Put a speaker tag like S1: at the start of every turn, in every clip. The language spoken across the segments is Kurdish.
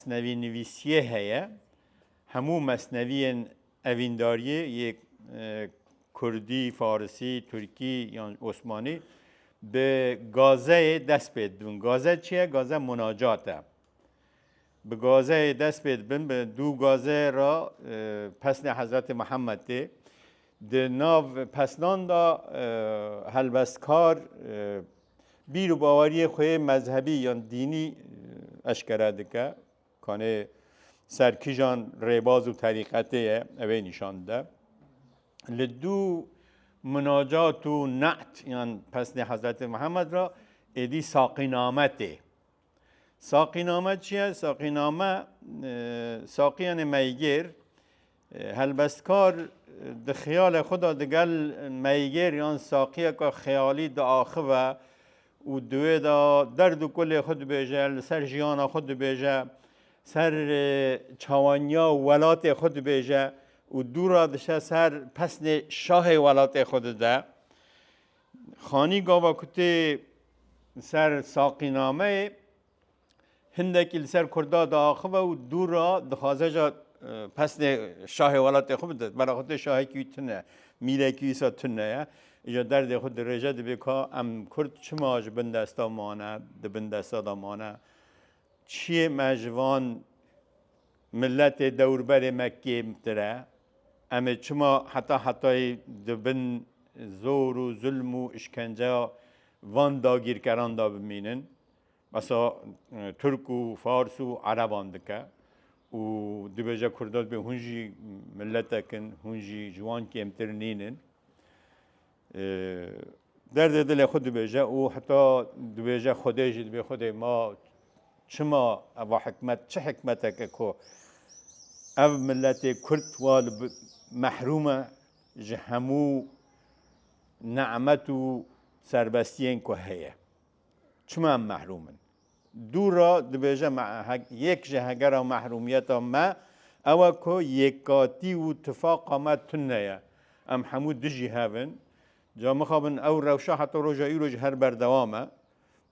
S1: Mesnevînivîsiyê heye. Hemû mesneviyên evîndariyê yê kurdî, farisî, tirkî yan osmanî bi gazeyê dest pê dibin. Gaze çi ye? Gaze munacat e. Bi gazeyê dest pê dibin, bi dû gaze re pesnê Hezretê Mihemed tê. Di nav pesnan de helbestkar bîr û baweriyê xwe yê mezhebî yan dînî eşkere dike. Kanê ser kijan rêbaz û terîqetê ye ev ê nîşan dide. Li dû minacat û ne'd yan pesnê Hezretê Mihemed re êdî saqîname tê. Saqîname çi ye? Saqîname saqiyanê meygêr helbestkar di xiyale xwe de digel meygêr yan saqiyeke xeyalî diaxive û di wê de derd û kulê xwe dibêje, li ser jiyana xwe dibêje, ser çawaniya welatê xwe dibêje û dû re diçe ser pesnê şahê welatê xwe dide. Xanî gava ku tê li ser saqînameyê hindekî li ser Kurda diaxive û dû ra dixwaze ja pesnê şahê welatê xwe bide. Bera xwe tê şahekî wî tune, mîrekî wîsa tune ye. Îja derdê xwe dirêje dibê ka em Kurd çima ji bin desta mane, di bin desta de mane. Çiyê me ji van Miletê dewrberê me kêmtir e. Em ê çima heta hetayî di bin zor û zulm û îşkenceya van dagîrkeran de bimînin? Behsa Tirk û Fars û Ereban dike û dibêje Kurda dibê hûn jî miletek in, hûn jî ji wan kêmtir nînin. Derdê dilê xwe dibêje û heta dibêje Xwedê jî dibê Xwedê ma çima eva hikmet çi hikmetek e ku ev miletê Kurd wa li mehrûm e ji hemû nimet û serbestiyên ku heye. Çima em mehrûm in? Dûra dibêje me yek ji hegera mehrûmiyeta me ew e ku yekatî û tifaqa me tune ye. Em hemû dijî hev in. Ca mixabin ew rewşa heta roja îro ji her berdewam e.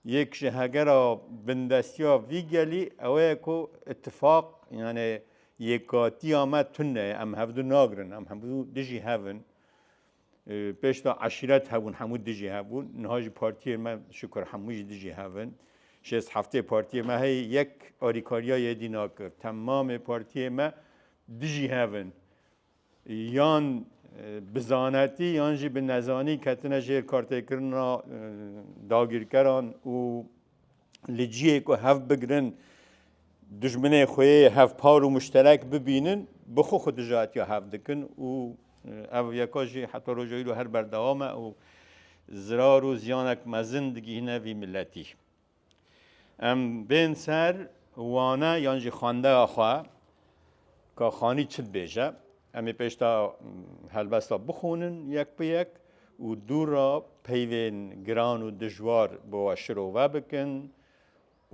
S1: Yek ji hegera bindestiya vî gelî ew ye ku îtifaq yanê yekatiya me tune ye. Em hevdu nagirin. Em hemû dijî hev in. Pêş de eşîret hebûn, hemû dijî hebûn. Niha jî partiyên me şikur hemû jî dijî hevin. Şêst heftê partiyê me heye yek alîkariya yedî nakir. Temamê partiyê me dijî hevin. Yan bi zanetî yan jî bi nezanî ketine jêr kartêkirina dagîrkeran û li ciyê ku hev bigirin dijminê xwe yê hevpar û muşterek bibînin bi xwe xwe dijatiya hev dikin û ev yeka jî heta roja îro her berdewam e û zirar û ziyanek mezin digihîne vî miletî. Em bên ser wane yan jî xwendeya xwe Ka Xanî çi dibêje? Em ê pêşta helbesta bixwînin yek bi yek û dû re peyvên giran û dijwar bi we şirove bikin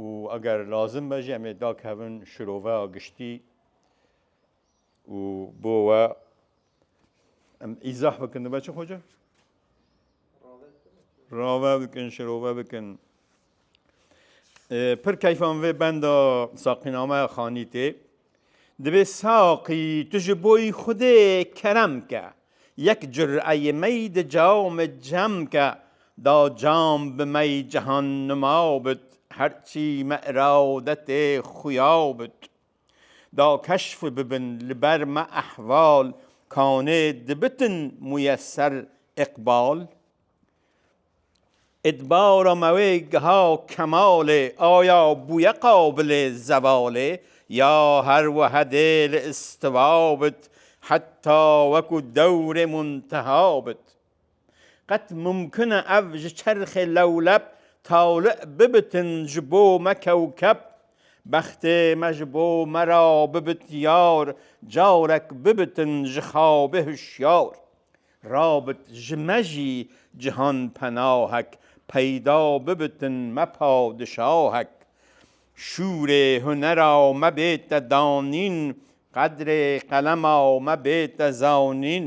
S1: û eger lazim be jî em ê dakevin şiroveya giştî û bo we Em îzah bikin dibe çi xwece? Rave bikin, şirove bikin. Pir keyfan vê benda saqînameya xanî tê. Divê saqî tu ji boî xudê kerem ke. Yek cureyê mey di came cem ke. Da cam bi mey cehan nima bit. Her çî me iraw de tê xuya bit. Da keşf bibin li ber me ehval kanê dibitin muyeser iqbal Îtbara me wê geha kemalê aya bûye qabilê zevalê Ya her wehe dê li istiwa bit heta weku dewrê munteha bit. Qet mumkin e ev ji çerxê lewleb tawli bibitin ji bo me kewkeb, bextê me ji bo me ra bibit yar, carek bibitin ji xabê hişyar. Rabit ji me jî cihan penahek, peyda bibitin me padişahek. Şûrê hunera me bête danîn, qedrê qelema me bête zanîn.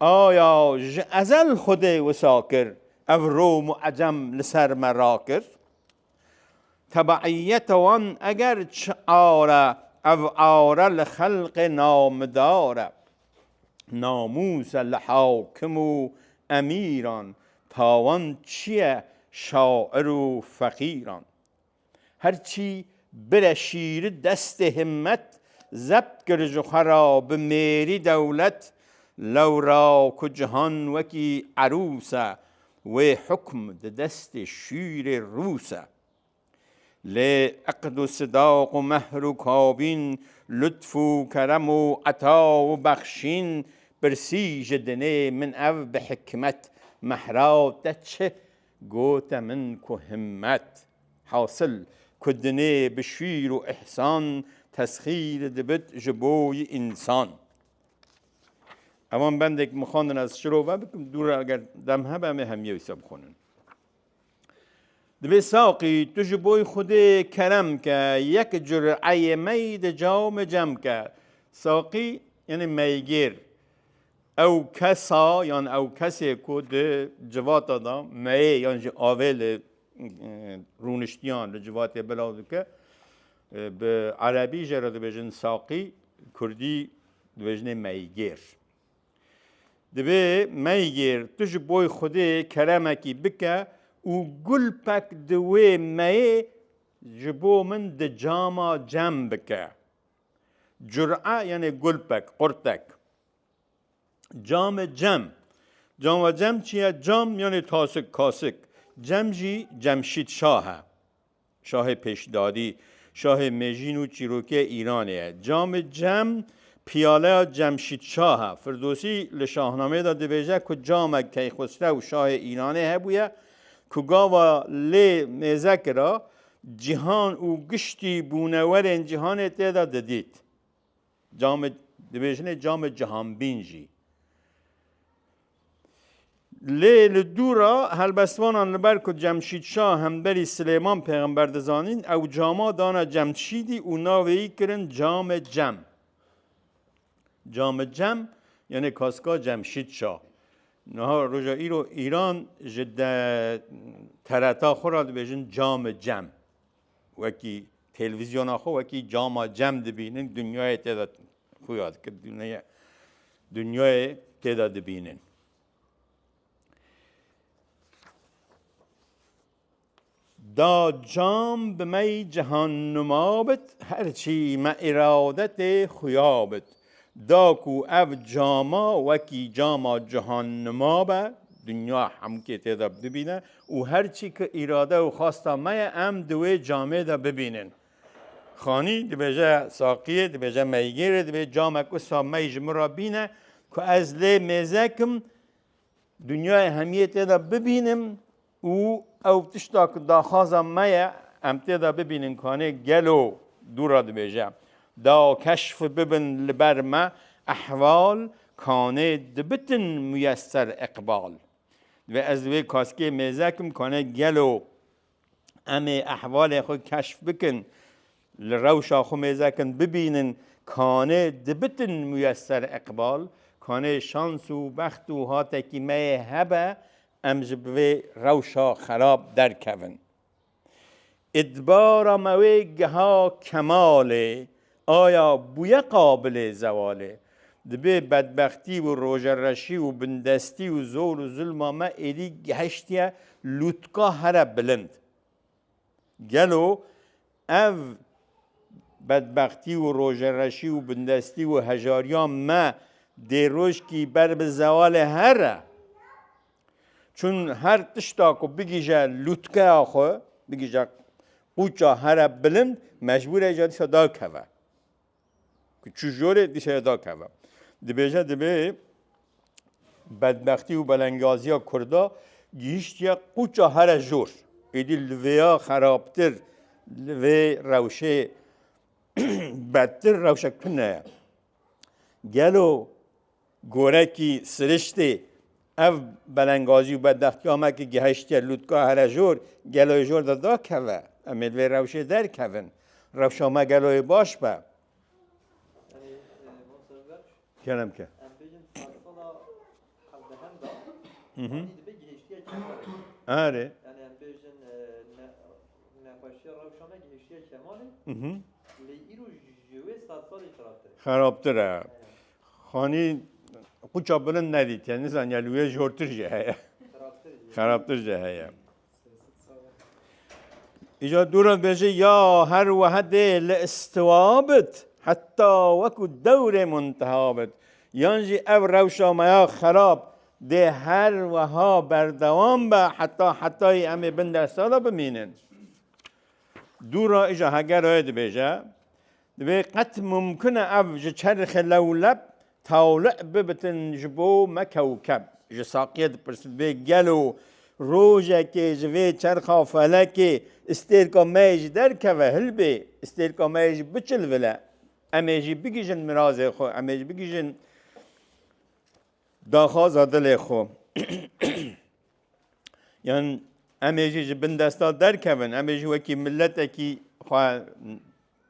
S1: Aya ji ezel Xwedê wisa kir, ev Rom û Ecem li ser me rakir? Tebeîyeta wan eger çi are, ev are li xelqê namidar e. Namûs e li hakim û emîran, tawan çi ye şair û feqîran. Her çî bire şîri destê himmet, zebt kir ji xwe ra bi mêrî dewlet, lewra ku cihan wekî erûs e, wê hukm di destê şîrê rûs e. Lê iqd û sidaq û mehr û kabîn, lutf û kerem û eta û bexşîn, pirsî ji dinê min ev bi hikmet, mehra te çi Gote min ku himmet, hasil, ku dinê bi şîr û îhsan tesxîr dibit ji bo yi însan. Evan bendek min xwendin ez şirove bikim dû re eger dem hebe em ê hemî wisa bixwînin. Dibê saqî tu ji bo Xwedê kerem ke, yek cureyê mey di cawê min cem ke. Saqî yanî meygêr. Ew kesa yan ew kesê ku di civata de meyê yan jî avê li rûniştiyan li civatê bila dike bi erebî jê re dibêjin saqî, kurdî dibêjinê meygêr. Divê meygêr tu ji boy xwedê keremekî bike û gulpek di wê meyê ji bo min di cama cem bike. Cura yanê gulpek, qurtek. Cam e cem. Cam ve cem çi ye? Cam yanê tasik, kasik. Cem jî Cemşîd Şah e. Şahê pêşdadî, şahê mêjîn û çîrokê Îranê ye. Camê cem piyaleya Cemşîd Şah e. Firdosî li Şahnameyê de dibêje ku camek Keyxusrew şahê Îranê hebûye ku gava lê mêze kira, cîhan û giştî bûnewerên cîhanê tê de didît. Camê, dibêjinê camê cihanbîn jî. Lê li dû re helbestvanan li ber ku Cemşîd Şah hemberî Silêman Pêxember dizanîn, ew cama dane Cemşîdî û navê yî kirin Camê Cem. Camê Cem yanê kaska Cemşîd Şah. Niha roja îro Îran ji de tereta xwe re dibêjin Camê Cem. wekî telvîzyona xwe wekî cama cem dibînin dinyayê tê de xuya dikir dûneye dinyayê tê de dibînin. Da cam bi me cihannuma bit her çî me îradetê xuya bit. Da ku ev cama wekî cama cihannima be, dinya hemkê tê de bibîne û her çî ki îrade û xasta me ye em di wê camê de bibînin. Xanî dibêje saqiyê, dibêje meygêrê, divê camek wisa mey ji min re bîne ku ez lê mêzekim Dinyayê hemiyê tê de bibînim û ew tişta ku daxwaza me ye em tê de bibînin kanê gelo dû re dibêje. Da keşf bibin li ber me ehval kanê dibitin muyesser iqbal. Divê ez wê kaskê mêzekim kanê gelo Em ê ehvalên xwe keşf bikin, li rewşa xwe mêzekin bibînin kanê dibitin muyeser iqbal, kanê şans û bext û hatekî me yê hebe em ji vê rewşa xerab derkevin. Îtibara me wê giha kemal ê. Aya bûye qabilê zewalê? Dibê bedbextî û rojereşî û bindestî û zor û zulma me êdî gehiştiye lûtka here bilind. Gelo ev bedbextî û rojereşî û bindestî û hejariya me dê rojkî ber bi zewalê here Çün her tişta ku bigije lûtkeya xwe, bigije qûça here bilind, mecbûre ca dîsa dakeve. Ku çi jorê dîsa dakeve. Dibêje dibê bedbextî û belengaziya Kurda gihîştiye qûça here jor. Êdî li vêya xerabtir, li vê rewşê bedtir rewşe tune ye. Gelo Gorekî siriştê ev belengazî û bedextiya me ku gihiştiye lûtka herejor, gelo ê jor de dakeve. Em ê li vê rewşê derkevin. Rewşa me gelo ê baş be. Xerabtir e. Xanî quça bilind nedîtiye, nizaniye li wê jortir jî heye. Xerabtir jî heye. Îca dûran bêje ya her wehedê li istiwa bit heta wekû dewrê munteha bit. Yan jî ev rewşa me ya xerab dê her weha berdewam be heta hetayî em ê bin dersa de bimînin. Dûra îja hegeroyê dibêje Divê qet mumkin e ev ji çerxê lewleb tawli bibitin ji bo me kewkeb. Ji saqiyê dipirsin divê gelo rojekê ji vê çerxa felekê îstêrka me yê jî derkeve, hilbê îstêrka me yê jî biçilvile, em ê jî bigihîjin mirazê xwe, em ê jî bigihîjin daxwaza dilê xwe. Yan em ê jî ji bin desta derkevin, em ê jî wekî miletekî xwe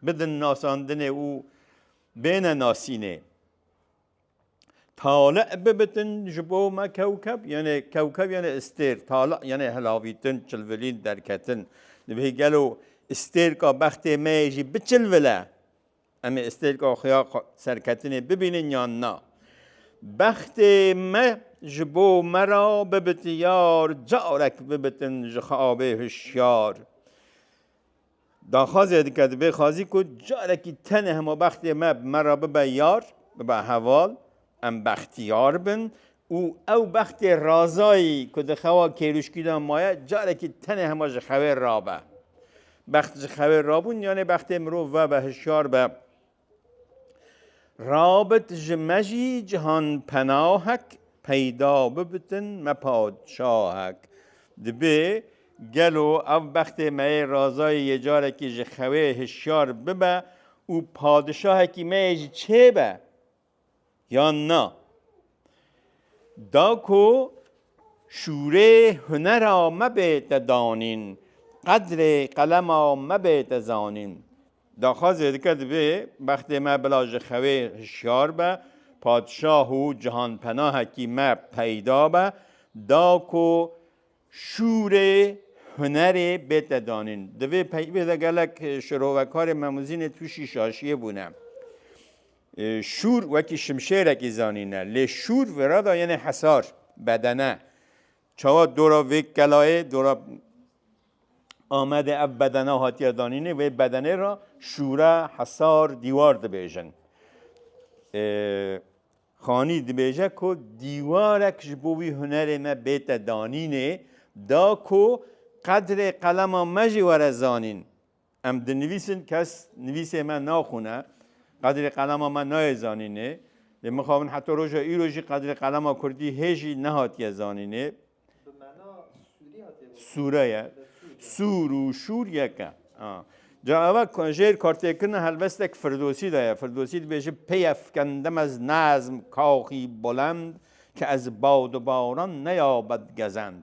S1: bidin nasandinê û bêne nasînê. Tali bibitin ji bo me kewkeb yenê kewkeb yenê istêr tali yenê helavîtin çilvilîn derketin divê gelo istêrka bextê me yê jî biçilvile em ê istêrka xuya serketinê bibînin yan na bextê me ji bo me ra bibitiyar carek bibitin ji xabê hişyar Daxwazê dike di vê xwazî ku carekî tenê hema bextê me bi me re bibe yar, bibe heval, em bextiyar bin û ew bextê Razayî ku di xewa kêrûşkî de maye carekî tenê hema ji xewê rabe. Bext ji xewê rabûn yanê bextê mirov vebe hişyar be Rabit ji me jî cihan penahek peyda bibitin me padşahek. Dibe gelo ev bextê me yê Razayê yê carekî ji xewê hişyar bibe û padişahekî me yê jî çêbe. yan na. Da ku şûrê hunera me bête danîn, qedrê qelema me bête zanîn. Daxwaz zêdike divê bextê me bila ji xewê hişyar be, padişah û cihanpenahekî me peyda be, da ku şûrê hunerê bête danîn. Di vê peyvê de gelek şirovekarê me Muzînê tûşî şaşiyê bûne. Şûr wekî şimşêrekî zanîne, lê şûr vera da yenê hesar, bedene. Çawa dora vê kelayê, dora Amedê ev bedena hatiye danînê, vê bedenê ra şûre, hesar, dîwar dibêjin. Xanî dibêje ku dîwarek ji bo wî hunerê me bête danînê, da ku qedrê qelema me jî were zanîn, Em dinivîsin, kes nivîsê me naxwîne, qedrê qelama me nayê zanînê. Lê mixabin heta roja îro jî qedrê qelama kurdî hê jî nehatiye zanînê. Bi mena sûrî hatiye gotin. Sûre ye. Sûr û şûr yek e. Ca eva jêr kartêkirina helbestek Firdosî de ye. Firdosî dibêje pêye fikendim ez nezm kaxî bulend ki ez bawdibawran neya bedgezend.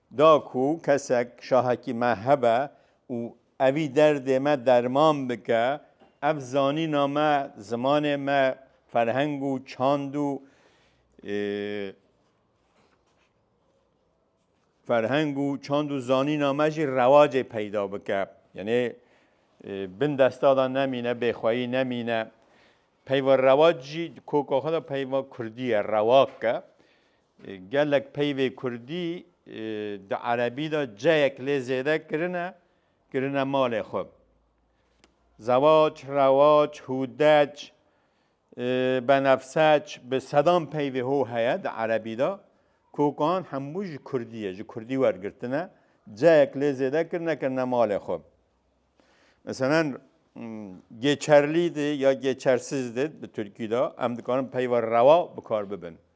S1: Da ku kesek şahekî me hebe û evî derdê me derman bike, ev zanîna me, zimanê me, ferheng û çand û ferheng û çand û zanîna me jî rewacê peyda bike. Yanê bin desta de nemîne, bêxweyî nemîne. Peyva rewac jî di koka xwe de peyva kurdî ye, rewak e. Gelek peyvê kurdî di erebî de ceyek lê zêde kirine, kirine malê xwe. Zewac, rewac, hûdec, benefseç bi sedan peyvê ho heye di erebî de ku wan hemû ji kurdî ye, ji kurdî wergirtine, ceyek lê zêde kirine, kirine malê xwe. Meselen gêçerlî de ya gêçersiz de bi tirkî de em dikarin peyva rewa bikar bibin.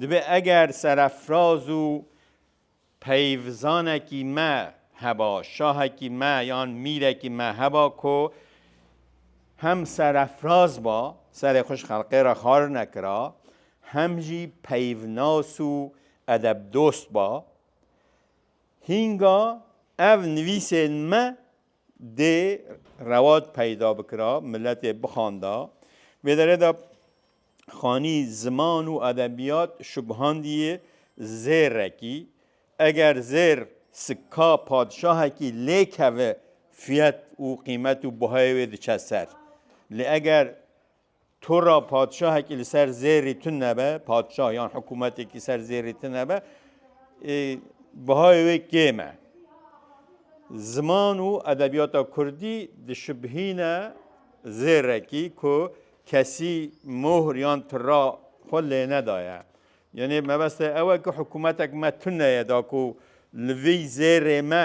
S1: Dibê eger serefraz û peyvizanekî me heba, şahekî me yan mîrekî me heba ku hem serefraz ba, serê xwe ji xelqê re xar nekira, hem jî peyvnas û edebdost ba, hînga ev nivîsên me dê rewaj peyda bikira, miletê bixanda. Vê derê de xanî ziman û edebiyat şubhandiyê zêrekî. Eger zêr sikka padişahekî lêkeve fiyet û qîmet û buhayê wê diçe ser. Lê eger Tu ra padşahekî li ser zêrî tun nebe, padşah yan hikûmetekî ser zêrî tun nebe, bihayê wê kêm e. Ziman û edebiyata Kurdî dişibhîne zêrekî ku kesî mohr yan tira xwe lênedaye. Yanê mebeste ew e ku hikûmetek me tun neyeda ku li vî zêrê me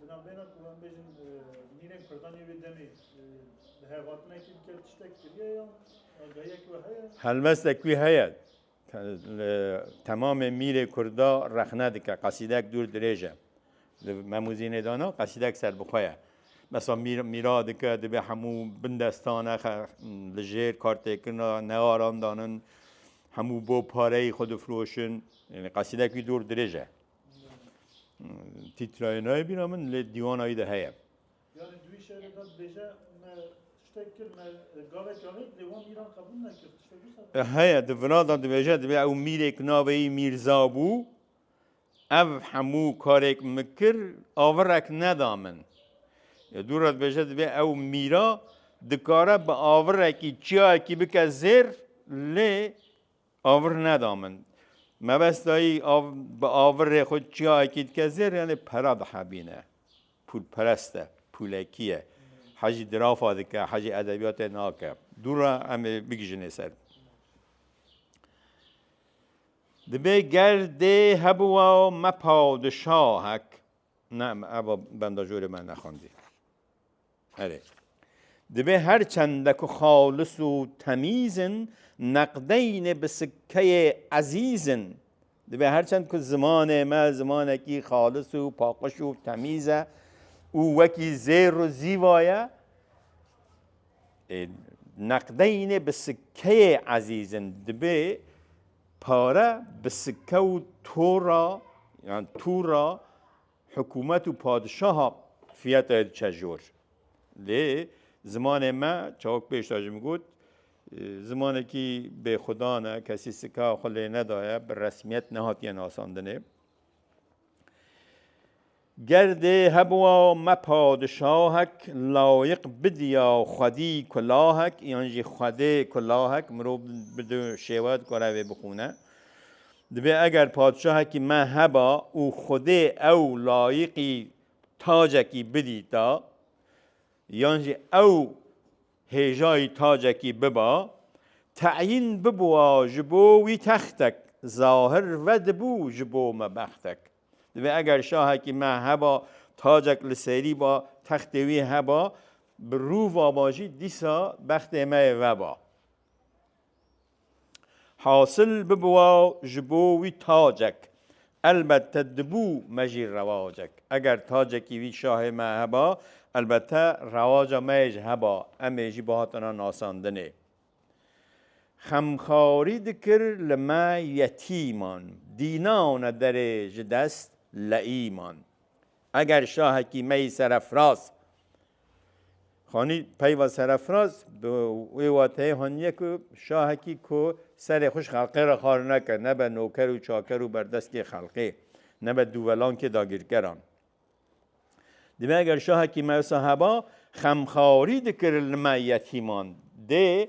S1: Di navbêyna ku em bêjin mînên Kurdan yê wê demê bi hevatinekî bike tiştek kiriye ya agahiyek we heye? Helwestek wî heye. Temamê mîrê Kurda rexne dike. Qesîdek dûr dirêj e. Di Memûzînê de ne qesîdek serbixwe ye. Mesela mîr mîra dike divê hemû bin destan e li jêr kartêkirina nearan danin. Hemû bo pareyî xwe difiroşin. Qesîdek wî dûr dirêj e. Tîtrayê nayê bîra min lê dîwana wî de heye. Yani duî şerê da dibêje me tiştek kir me gavek avêt lê wan mîran qebûl nekir tiştek wisa da. Heye di vina da dibêje dibê ew mîrêk navê wî Mîrza bû ev hemû karêk min kir avirek neda min. Ya dû re dibêje dibê ew mîra dikare bi avirekî çiyayekî bike zêr lê A vir neda min. Mebest dayî bi a vir rê xwe çiyayekî dike zêr yanî pera dihebîne. Pûlperest e, pûlekî ye. Hecî dirafa dike, hecî edebiyatê nake. Dû re em ê bigijinê ser. Dibê ger dê hebûa me paw di şahek. Ne, eva benda jorê me nexwendî. Erê. Divê her çende ku xalis û temîz in, neqdeynê bi sikkeyê ezîz in. Divê her çend ku zimanê me zimanekî xalis û paqij û temîz e û wekî zêr û zîva ye, neqdeynê bi sikkeyê ezîz in. Divê pare bi sikke û tora yan tûra Hikûmet û padişaha fiyatayê diçe jor. Lê zimanê me çawik pêş de jim got zimanekî bêxudan e, kesî sika xwe lê nedaye, bi resmiyet nehatiye nasandinê. Ger dê hebûa me padişahek layiq bidiya xwedî kulahek yan jî xwedê kulahek mirov bi du şêwe dikare vê bixwîne. Divê eger padşahekî me heba û Xwedê ew layiqî tacekî bidîta yan jî ew hêjayî tacekî biba, teyîn bibûa ji bo wî textek, zahir vedibû ji bo me bextek. Divê eger şahekî me heba tacek li serî ba, textê wî heba, bi rûva ba jî dîsa bextê me yê veba. Hasil bibiwa ji bo wî tacek. Elbette dibû me jî rewacek. Eger tacekî wî şahê me heba, elbette rewaca me yê jî heba, em ê jî bihatina nasandinê. Xemxarî dikir li me yetîman. Dîna û ne derê ji dest leîman. Eger şahekî me yî serefraz hanî peyva serefraz bi wê wateyê haniye ku şahekî ku serê xwe ji xelqê re xar neke, nebe noker û çaker û berdestê xelqê, nebe dûvelankê dagîrkeran. Divê eger şahekî me wisa heba, xemxarî dikir li me yetîman dê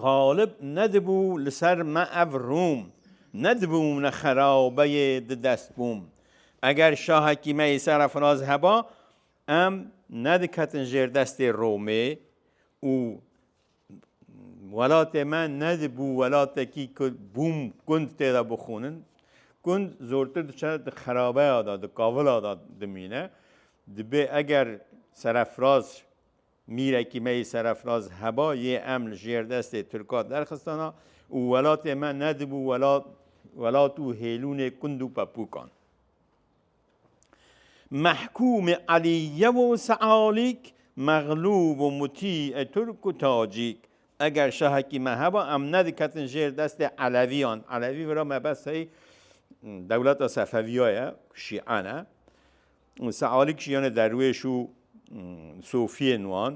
S1: Xalib nedibû li ser me ev rûm, nedibû min xerabeyê di dest bûm. Eger şahekî me yê serefraz heba, em nediketin jêr destê Romê û welatê me nedibû welatekî ku bûm gund tê de bixwînin. Gund zortir diçe di xerabeya de, di kavila de dimîne. Dibê eger serefraz Mîrekî me yê serefraz heba yê em li jêr destê Tirka derxistana û welatê me nedibû welat û hêlûnê kund û pepûkan. Mehkûmê Elîyev û Sealîk, Mexlûb û Mutî ê Tirk û Tacîk. Eger şahekî me heba em nediketin jêr destê Elevîyan. Elevî vira me bes hey dewleta Sefeviya ye ku Şîan e. Sealîk jî yanê derwêş û sofiyên wan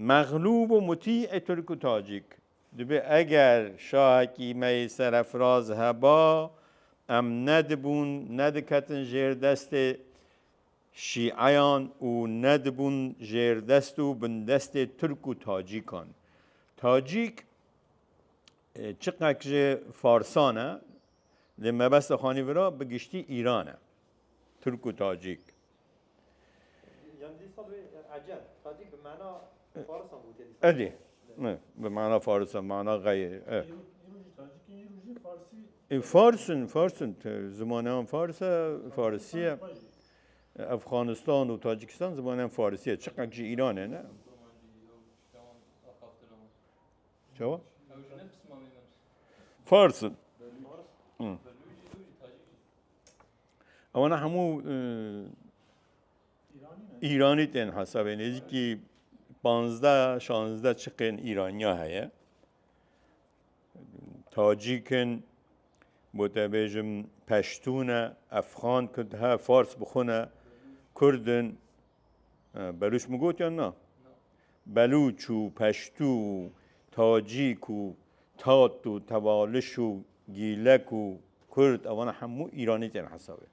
S1: mexlûb û mutî ê tirk û tacîk dibê. Eger şahekî me yê serefraz heba em nedibûn, nediketin jêr destê şîeyan û nedibûn jêrdest û bindestê tirk û tacîkan. Tacîk çiqek ji farsan e lê mebesta xanî vira bi giştî Îran e. Turk û Tacîk. Edî bi mana farisan mana xeyr e. Farsin farsin zimaneyan fars e farisî ye. Efxanistan û Tacîkistan zimaneyan farisî ye çiqek jî Îranê ne. Çawa? Farsin. Ewan hemû Îranî tên hesabê nêzîkî panzde şanzde çiqên Îraniya heye. Tacîk in, بۆ te bêjim peştûn e, efxan, kurd he, fars bixwe ne, kurd in, Belûç min got yan na? Belûç û peştû û tacîk û tat û tevaliş û gîlek û kurd ewana hemû îranî tên hesabê.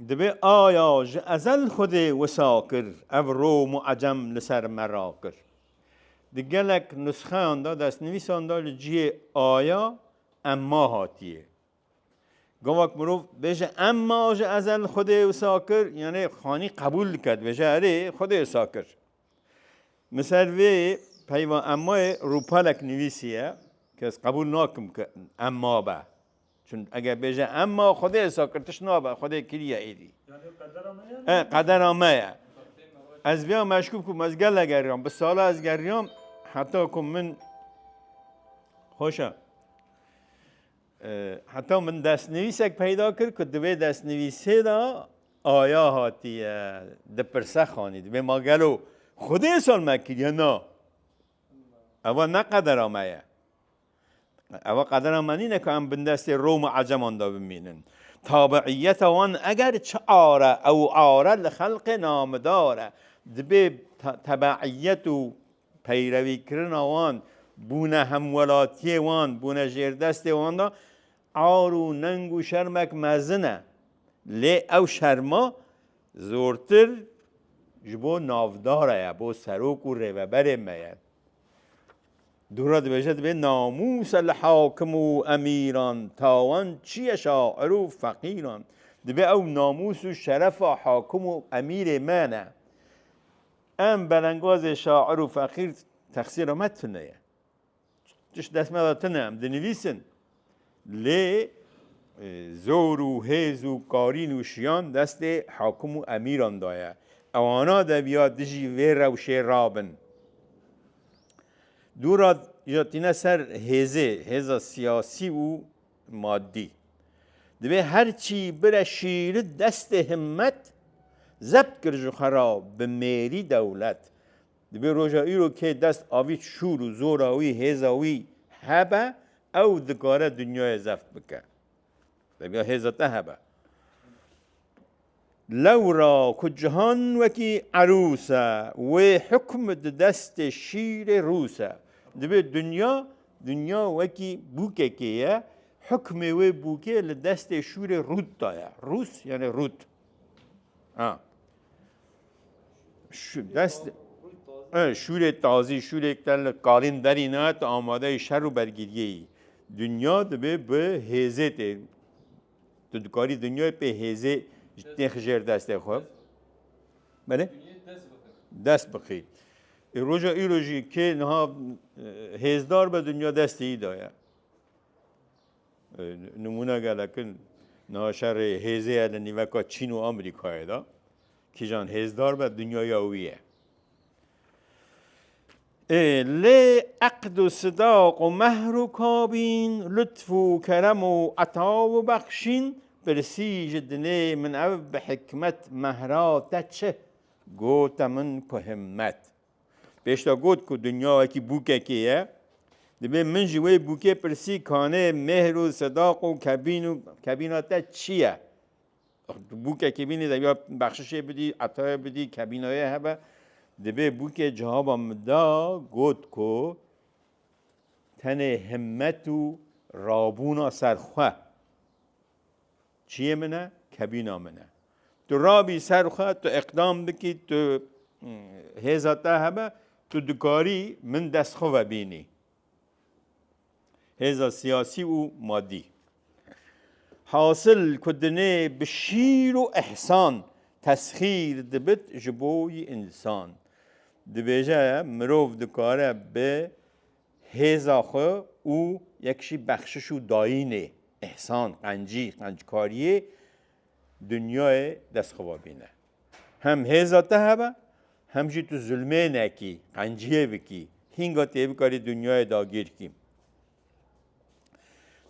S1: Dibê aya ji ezel xwedê wisa kir ev rom û ecem li ser me rakir. Di gelek nusxeyan de destnivîsan de li cihê aya emma hatiye. Gavak mirov bêje em ma ji ezel Xwedê wisa kir, yanê xanî qebûl dike dibêje erê Xwedê wisa kir. Min ser vê peyva em mayê rûpelek nivîsiye ke ez qebûl nakim ke em ma be. Çun eger bêje em ma Xwedê wisa kir tişt nabe Xwedê kiriye êdî. E qedera me ye. Ez vêya meşkûk bûm ez gele geriyam bi sala ez geriyam heta ku min hoşa. Heta min destnivîsek peyda kir ku di vê destnivîsê de aya hatiye dipirse xanî dibê ma gelo xwedê sal me kiriye na ewa ne qedera me ye. Ewa qedera me nîne ku em bindestê rom û eceman de bimînin. Tabiîyeta wan eger çi are ew are li xelqê namidar e. Dibê tebeîyet û Peyrevîkirina wan, bûne hemwelatiyê wan, bûne jêrdestê wan de ar û neng û şermek mezin e. Lê ew şerma zortir ji bo navdara ye, bo serok û rêveberên me ye. Dûra dibêje dibê namûsa li hakim û emîran, tawan, çiye şair û feqîran. Dibê ew namûs û şerefa hakim û emîrê me ne. Em belengazê şair û feqîr texsîra me tune ye. Tişt dest me de tune em dinivîsin. Lê zor û hêz û karîn û şiyan destê hakim û emîran de ye. Ewana deviya dijî vê rewşê rabin. Dûra ja tîne ser hêzê, hêza siyasî û Madî. Divê her çî bire şîri destê himmet, zebt kir ji xwe ra bi mêrî dewlet. Divê roja îro kê dest avît şûr û zora wî, hêza wî hebe, ew dikare dinyayê zeft bike. Deviya hêza te hebe. Lewra ku cihan wekî erûs e, wê hukm di destê şîrê rûs e. Divê dinya, dinya wekî bûkekê ye, hukmê wê bûkê li destê şûrê rût da ye. Rûs yanê rût. Ha. Şu dest şûrê tazî, şûrêk te li kalên derî ne, te amadeyê şer û bergiriyê yî. Dinya divê bi hêzê tê Tu dikarî dinyayê pê hêzê nêxi jêr destê xwe. Belê? Dest bixî. E, roja îro jî kê niha e, hêzdar be dinya destê î daye. Nimûne gelekin niha şerê hêzê ye li nîveka Çîn û Amerîkayê da. Kîjan hêzdar be dinyaya wî ye. Ê lê eqd û sidaq û mehr û kabîn, lutf û kerem û eta û bexşîn, pirsî ji dinê min ev bi hikmet mehra te çi? Gote min ku himmet. Pêşda got ku dinya wekî bûkekê ye, dibê min ji wê bûkê pirsî kanê mêhr û sidaq û kebîn û kebîna te çi ye? Bûkekê bînî de ya bexşişê bidî, etayê bidî, kebînayê hebe. Dibê bûkê cihaba min da got ku tenê himmet û rabûna ser xwe çiyê min e, kebîna min e. Tu rabî ser xwe, tu iqdam bikî, tu hêza te hebe, tu dikarî min dest xwe vebînî. Hêza siyasî û madî. Hasil ku dinê bi şîr û ihsan tesxîr dibit ji bo însan. Dibêje mirov dikare bi hêza xwe û yek jî bexşiş û dayînê, ihsan, qencî, qenckariyê dinyayê destxova bîne. Hem hêza te hebe, hem jî tu zulmê nekî, qenciyê bikî, hînga tê bikarî dinyayê dagîr kî.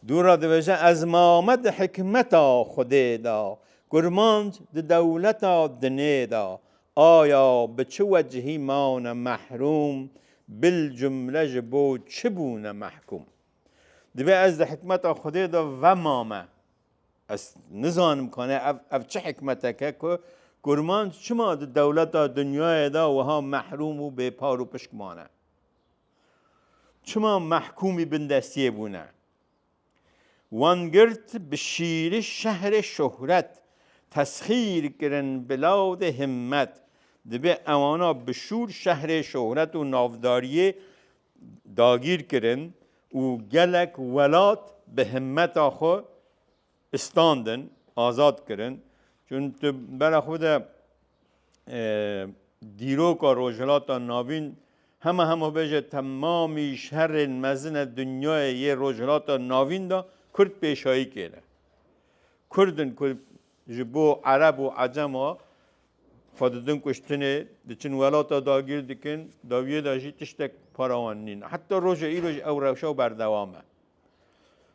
S1: Dûra diveje ez mame di hikmeta Xwedê de, kurmanc di dewleta dinê de. Aya bi çi wecihî mane mehrûm, bil cumle ji bo çi bûne mehkûm? Divê ez di hikmeta Xwedê de vemame. Ez nizanim kane ev ev çi hikmeteke ku kurmanc çima di dewleta dinyayê de wiha mehrûm û bêpar û pişk mane? Çima mehkûmî bindestiyê bûne? Wan girt bi şîri şehrê şohret, tesxîr kirin bi lawdê himmet. Dibe ewana bi şûr şehrê şohret û navdariyê dagîr kirin û gelek welat bi himmeta xwe standin, azad kirin. Çün tu bera xwe de dîroka Rojhilata Navîn hema hema bêje temamî şerên mezine dinyayê yê Rojhilata Navîn de Kurd pêşayî kêne. Kurdin ku Ji bo Ereb û Ecema xwe didin kuştinê, diçin welata dagîr dikin, dawiyê de jî tiştek para wan nîn. Heta roja îro jî ew rewşa berdewam e.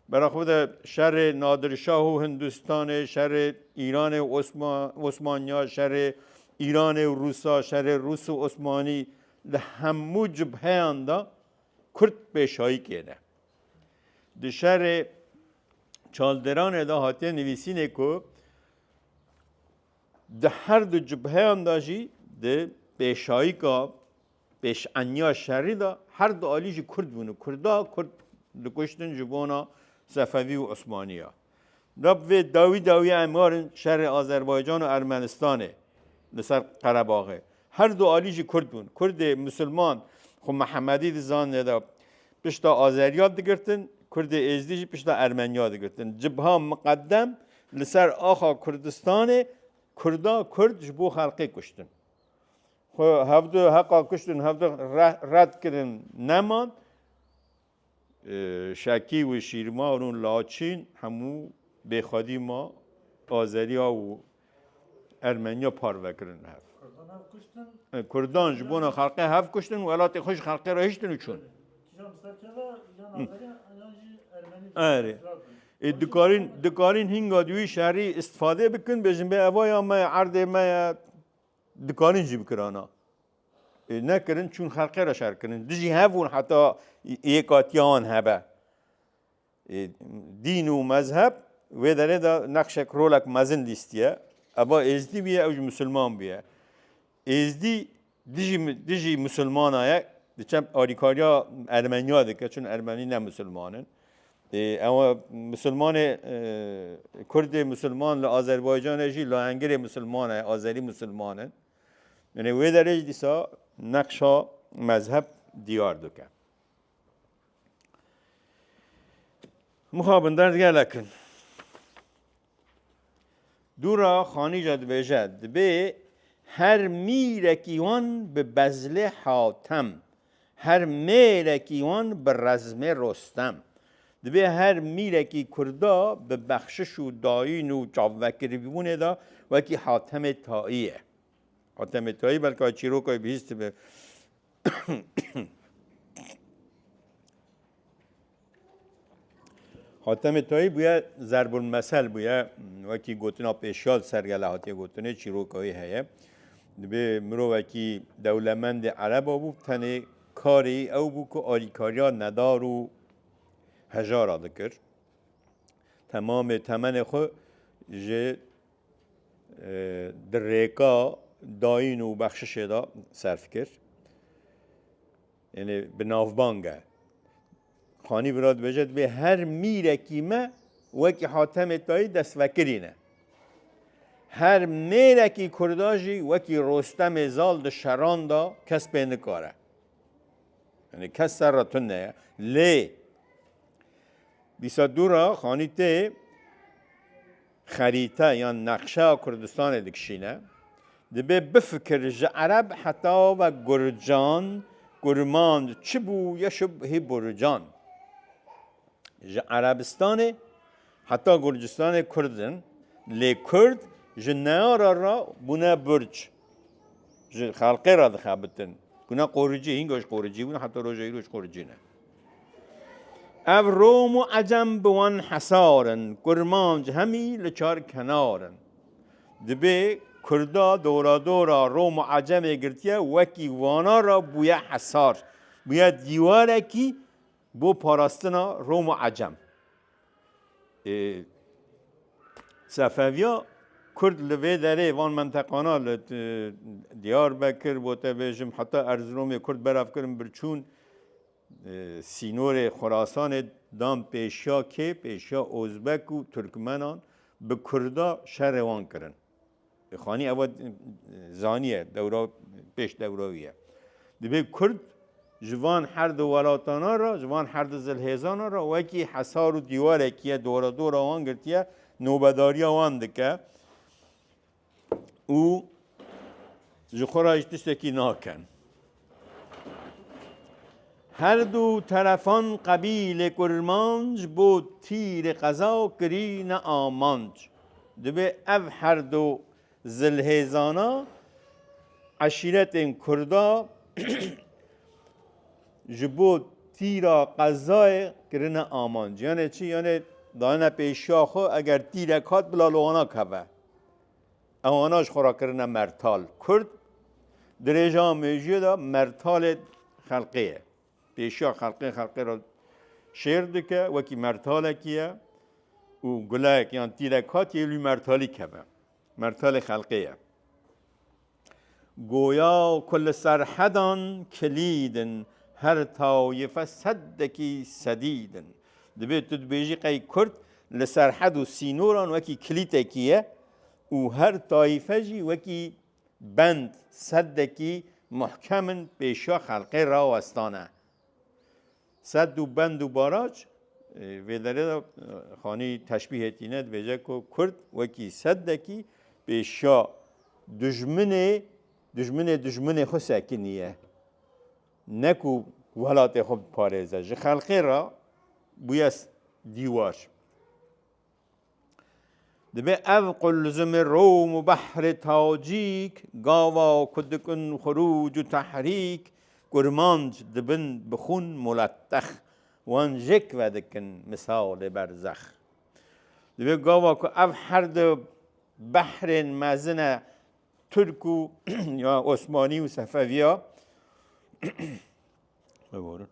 S1: Bera xwe de şerê Nadirşah û Hindistanê, şerê Îranê û Osmanya, şerê Îranê û Rûsa, şerê Rûs û Osmanî li hemû cibheyan de Kurd pêşayî kêne. Di şerê Çalderanê de hatiye nivîsînê ku di her du cibheyan de jî di pêşayîka pêşeniya şerî de her du alî jî Kurd bûn û Kurda Kurd dikuştin ji bona Sefevî û Osmaniya. Da bi vê dawî dawî em werin şerê Azerbaycan û Ermenistanê li ser Qerebaxê. Her du alî jî Kurd bûn. Kurdê Musulman xwe Mihemedî dizanin lê da pişta Azeriya digirtin, Kurdê Êzdî jî pişta Ermeniya digirtin. Cibha miqedem li ser axa Kurdistanê Kurda Kurd ji bo xelkê kuştin. Xwe hevdu heqa kuştin hevdu red kirin neman. Şakî û Şîrmar û Laçîn hemû bê xwedî ma Azeriya û Ermeniya parve kirin hev. Kurdan ji bona xelqê hev kuştin û welatê xwe ji xelqê re hiştin û çûn. Erê. Ê dikarîn dikarîn hînga di wî şerî îstifade bikin bêjin bê ev ya me ye, erdê me ye, dikarîn jî bikirana. Nekirin çûn xelqê re şer kirin. Dijî hev hûn heta yêkatiya wan hebe. Dîn û mezheb wê derê de nexşek rolek mezin lîstiye. Eba êzdî bûye ew ji musulman bûye. Êzdî dijî dijî musulmana ye diçem alîkariya ermeniya dike çun ermenî ne musulman in. Ew musulmanê kurdê musulman li Azerbaycanê jî lahengirê musulman e azerî musulman in. Li wê derê jî dîsa neqşa mezheb diyar dike. Mixabin derd gelek in. Dûra Xanîja dibêje, dibê her mîrekî wan bi bezlê hatem Her mêrekî wan bi rezmê Rostem. Divê her mîrekî kurda bi bexşiş û dayîn û çavvekirîbûnê de wekî Hatemê Taî ye. Hatemê Taî belka çîroka wî bihîstibe. Hatemê Tayî bûye zerbulmesel bûye wekî gotina pêşiyal sergele hatiye gotinê çîroka wî heye. Dibê mirovekî dewlemendê ereba bû tenê karê wî ew bû ku alîkariya nedar û hejara dikir. Temamê temenê xwe ji di rêka dayîn û bexşişê de serf kir. Ênê bi navbang e. Xanî Birad dibêje dibê her mîrekî me wekî Hatemê Tayî destvekirin e. Her mêrekî kurda jî wekî Rostemê Zal di şeran de kes pê nikare. Ênê kes ser re tune ye. Lê dîsa dû re Xanî tê xerîte yan neqşeya Kurdistanê dikişîne, dibê bifikir ji ereb heta ve gurcan, kurmand çi bû ye şubhî burcan. Ji Erebistanê heta Gurcistanê kurd in, lê kurd ji neyara re bûne burc. Ji xelqê re dixebitin. Kuna qoricî, hînga ji qoricî bûn heta roja îro ji qoricî ne. Ev Rom û Ecem bi wan hesar in, kurmanc hemî li çar kenar in. Dibê kurda doradora Rom û Ecemê girtiye wekî wana re bûye hesar, bûye dîwarekî bo parastina Rom û Ecem. Ê Sefeviya Kurd li vê derê van menteqana li Diyarbekir, gotebêjim heta Erziromê Kurd belav kirin birçûn sînorê Xurasanê dan pêşiya kê, pêşiya Ozbek û Turkmenan bi Kurda şerê wan kirin. Xanî ew zaniye dewra pêş dewra wî ye. Dibê Kurd ji van her di welatana re ji van her di zilhêzana re wekî hesar û dîwarekî ye dora dora wan girtiye nobedariya wan dike û ji xwe re ji tiştekî nakin. Her du terefan qebîlê kurmanc bo tîrê qeza kirîne amanc. Dibê ev her du zilhêzana eşîretên kurda ji bo tîra qezayê kirine amanc. Yanê çi? Yanê dayene pêşiya xwe eger tîrek hat bila li wana keve. Ewana ji xwe re kirine mertal kurd. Dirêja mejiyê de mertalê xelqê ye. Pêşiya xelqê xelqê re şêr dike wekî mertalekî ye û gulek yan tîlek hatiye lû mertalî keve. Mertalê xelqê ye. Goya ku li serhedan kilîdin, her tawîfe seddekî sedîdin. Divê tu dibêjî qey Kurd li serhed û sînoran wekî kilîtekî ye û her tayîfe jî wekî bend seddekî muhkem in pêşiya xelkê rawestane. Sed û bend û barac vê derê de xanî teşbîhê tîne dibêje ku Kurd wekî seddekî pêşiya dijminê dijminê dijminê xwe sekinî ye. Ne ku welatê xwe biparêze, ji xelkê re bûye dîwar. Dibe ev qulzumê rom û behrê tacîk, gava ku dikin xurûc û tehrîk, kurmanc dibin bi xûn muletex, wan jêk vedikin misalê berzex. Dibe gava ku ev her du behrên mezine Türk û ya Osmanî û Sefeviya bigorin.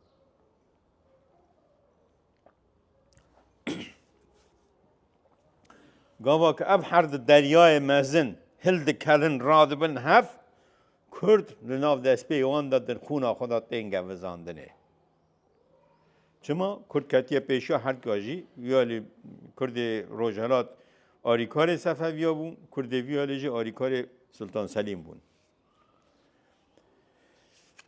S1: Gava ki ev her di deryayê mezin hil dikerin radibin hev Kurd li nav destpê wan de di xûna xwe de tên gevizandinê. Çima kurd ketiye pêşiya herka jî, viya lê kurdê rojhelat arîkarê Sefeviya bû, kurdê viya lê jî arîkarê Sultan Selîm bûn.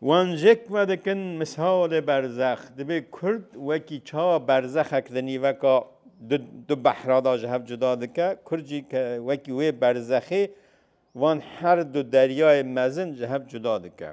S1: Wan jêk vedikin misalê berzex. Dibê kurd wekî çawa berzexek di nîveka du, du behra da ji hev cuda dike, kurd jî ke wekî wê berzexê van her du deryayê mezin ji hev cuda dike.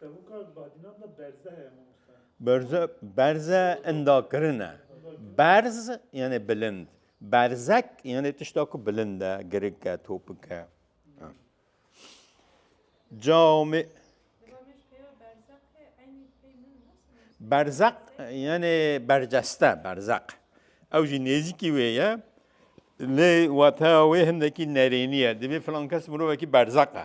S1: Tevûka badînan de berze heye mamoste. Berze, berze indakirin e. Berz yani bilind. Berzek yani tişta ku bilind e, girik e, topik e. Cami Berzak yani berceste berzak. Ew jî nêzîkî wê ye. Lê wateya wê hindekî nerênî ye. Divê filan kes mirovekî berzak e.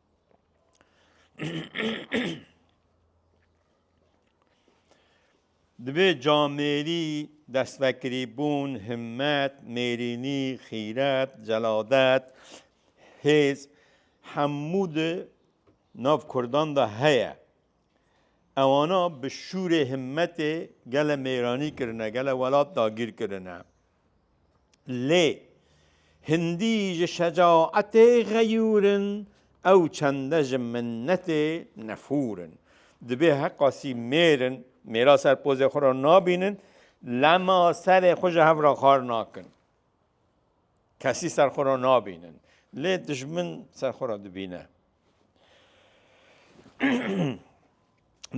S1: Divê camêrî, destvekrîbûn, himmet, mêrînî, xîret, celadet, hêz hemû di nav Kurdan de heye. Ewana bi şûrê himmetê gele mêranî kirine, gele welat dagîr kirine. Lê hindî ji şecaetê xeyûr in, ew çende ji minnetê nefûr in. Dibê heqasî mêr in, mêra ser pozê xwe re nabînin, lema serê xwe ji hev re xar nakin. Kesî ser xwe re nabînin. Lê dijmin ser xwe re dibîne.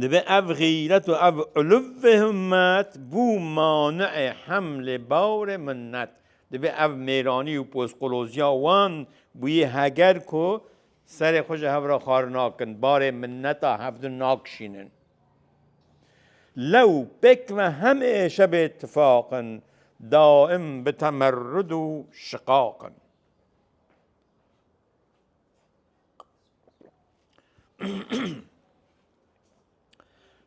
S1: Dibe ev xîret û ev uluvê himmet bû mani'ê hemlê bawrê minnet. Dibe ev mêranî û pozqoloziya wan bûyê heger ku Serê xwe ji hev re xar nakin, barê minneta hevdin nakişînin. Lew pêk me hem ê şebê tifaq in, daim bi temerrud û şiqaq in.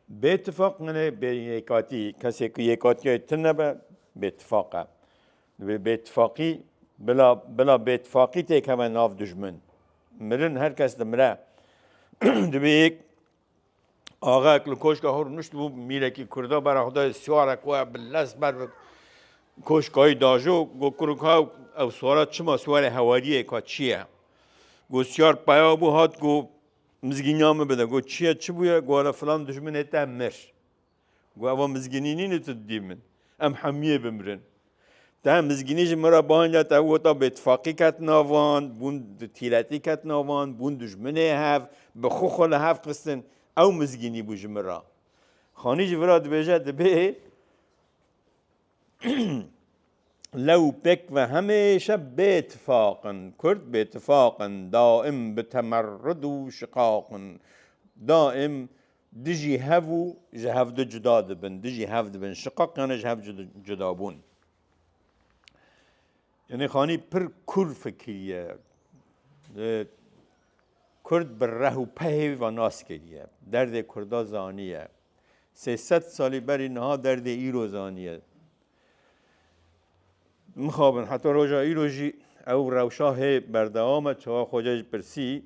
S1: Bê tifaq nine bê yêkatî kesê ku yêkatîyayê tim nebe bê tifaq e. Divê bê tifaqî bila bila bê tifaqî têk heve nav dijmin. Mirin her kes dimire. Divê yêk axek li koşka hor nişt bû mîrekî Kurda bera xwe dayê swara ku e bi les ber bi koşkayî dajo got kuruk ha ew swara çima swarê hewariyê ka çi ye. Got swar peya bû hat ku Mizgînya min bide. Got, çi ye, çi bûye? Got, here filan dijminê te mir. Got, ev a mizgînî nîne tu didî min. Em hemûyê bimirin. Te mizgînî ji min re bang da, te wota bêtifaqî ket nav wan, bûn tîletî ket nav wan, bûn dijminê hev, bi xwe xwe li hev xistin. Ew mizgînî bû ji min re. Xanî jî vira dibêje, dibê. Lew pêk ve hemêşe bêtifaq in. Kurd bêtifaq in, daim bi temerrud û şiqaq in. Daim dijî hev û ji hev de cuda dibin. Dijî hev dibin şiqaq yanî ji hev cudabûn. Yanî Xanî pir kûr fikiriye. Kurd bi reh û pehê ve nas kiriye. Derdê Kurda zaniye. Sê sed salî berî niha derdê îro zaniye. Mixabin heta roja îro jî ew rewşa hê berdewam e çawa xwecê ji pirsî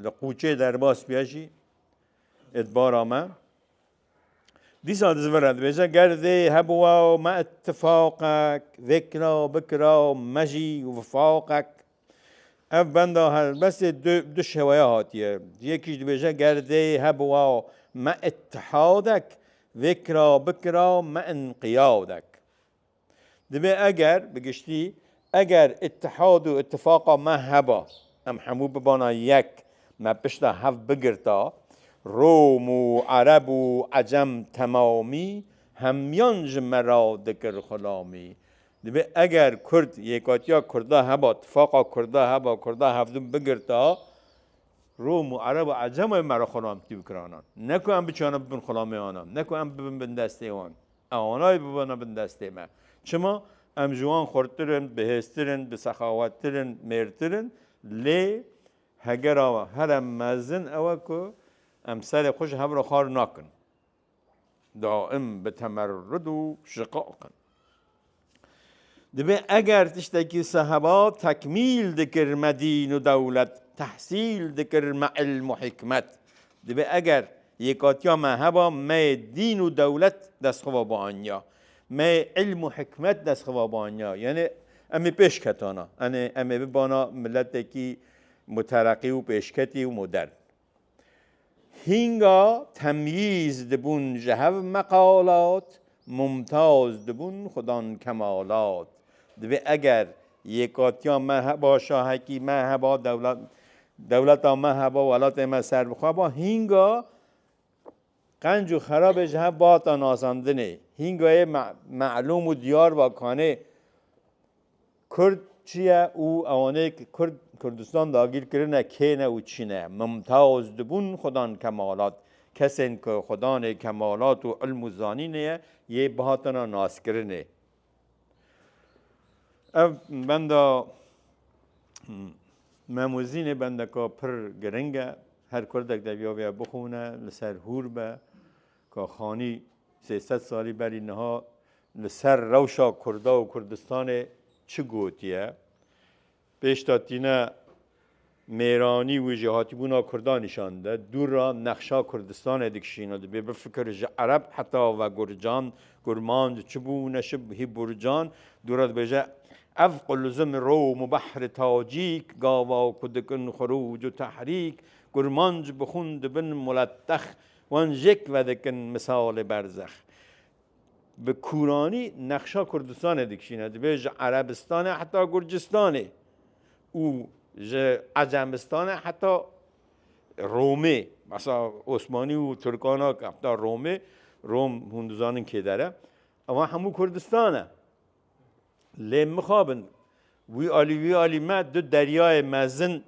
S1: li qûçê derbas biye jî êdbara me. Dîsa dizvire dibêje ger dê hebûwa me ittifaqek vê kira bikira me jî wifaqek Ev benda helbestê du du şeweya hatiye. Yekî ji dibêje ger dê hebûa me îtihadek vê kira bikira me înqiyadek. Dibê eger bi giştî eger îtihad û îtifaqa me heba em hemû bibana yek me pişta hev bigirta Rom û Ereb û Ecem temamî hemiyan ji me re dikir xulamî. Divê eger Kurd yêkatiya Kurda heba, tifaqa Kurda heba, Kurda hevdûm bigirta, Rom û Ereb û Ecem ê me re xulam tî bikiranan. Ne ku em biçane bibin xulamê anan, ne ku em bibin bindestê wan. Ew anayê bibana bindestê me. Çima? Em ji wan xurttir in, bihêztir in, bi sexawettir in, mêrtir in. Lê hegera here mezin ew e ku em serê xwe ji hev re xar nakin. Daim bi temerrud û şiqaq in. Divê eger tiştekî seheba tekmîl dikir me dîn û dewlet, tehsîl dikir me îlm û hîkmet, divê eger yêkatiya me heba me yê dîn û dewlet destxova bianiya, me yê îlm û hîkmet destxova bianiya yanê em ê pêş ketana, yanê em ê bibana miletekî mutereqî û pêşketî û modern. Hînga temyîz dibûn ji hev meqalat, mumtaz dibûn xudan kemalat. Divê eger yêkatiya me heba, şahekî me heba, dewleta me heba, welatê me serbixwe ba, hînga Qenc û xerabê ji hev bata nasandinê, hînga yê melûm û diyar va kanê Kurd çi ye û ewanê ki Kurd Kurdistan dagîr kirine kê ne û çi ne. Mimtaz dibûn xwedan kemalat. Kesên ki xwedanê kemalat û ilm û zanînê ye, yê bihatina naskirinê. Ev benda memûzînê bendeka pir giring e. Her kurdek devyaveye bixûne li ser hûr be ka xanî sê sed salî berî niha li ser rewşa Kurda û Kurdistanê çi gotiye. Pêş de tîne mêranî wî ji hatibûna Kurdan nîşan dide. Dûr re nexşa Kurdistanê dikişîne. Dibê bifikir ji Ereb heta ve Gurcan, Gurman di çi bû û neşib hî Burcan. Dûr re dibêje, Ev Quluzim, Rom, Behr, Tacîk, gava ku dikin xurûc û tehrîk, Gurmanc bi xûn dibin muletex, wan jêk vedikin misalê berzex. Bi kûranî nexşa Kurdistanê dikişîne, dibê ji Erebistanê heta Gurcistanê û ji Ecemistanê heta Romê, besa Osmanî û Tirkan a heta Romê, Rom hûn dizanin kê der e, ewa hemû Kurdistan e. Lê mixabin wî alî wî alî me du deryayê mezin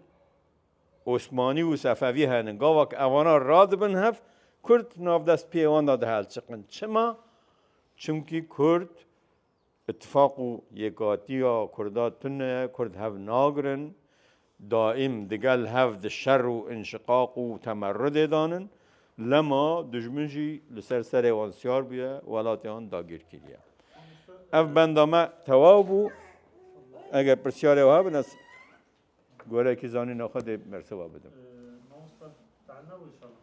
S1: Osmanî û Sefevî henin. Gava ku evana radibin hev, Kurd navdest pê wan de dihelçiqin. Çima? Çimkî Kurd îtîfaq û yêkatiya Kurda tune, Kurd hev nagirin, daîm digel hev di şer û înşiqaq û temerrudê dan in. Lema dijmin jî li ser serê wan siyar bûye, welatê wan dagîr kiriye. Ev benda me tewaw bû. Eger pirsiyarê wiha bin ez Gorekî zanîna xwe dê bersiva bidim. Mamosta Teanna û Îşallah.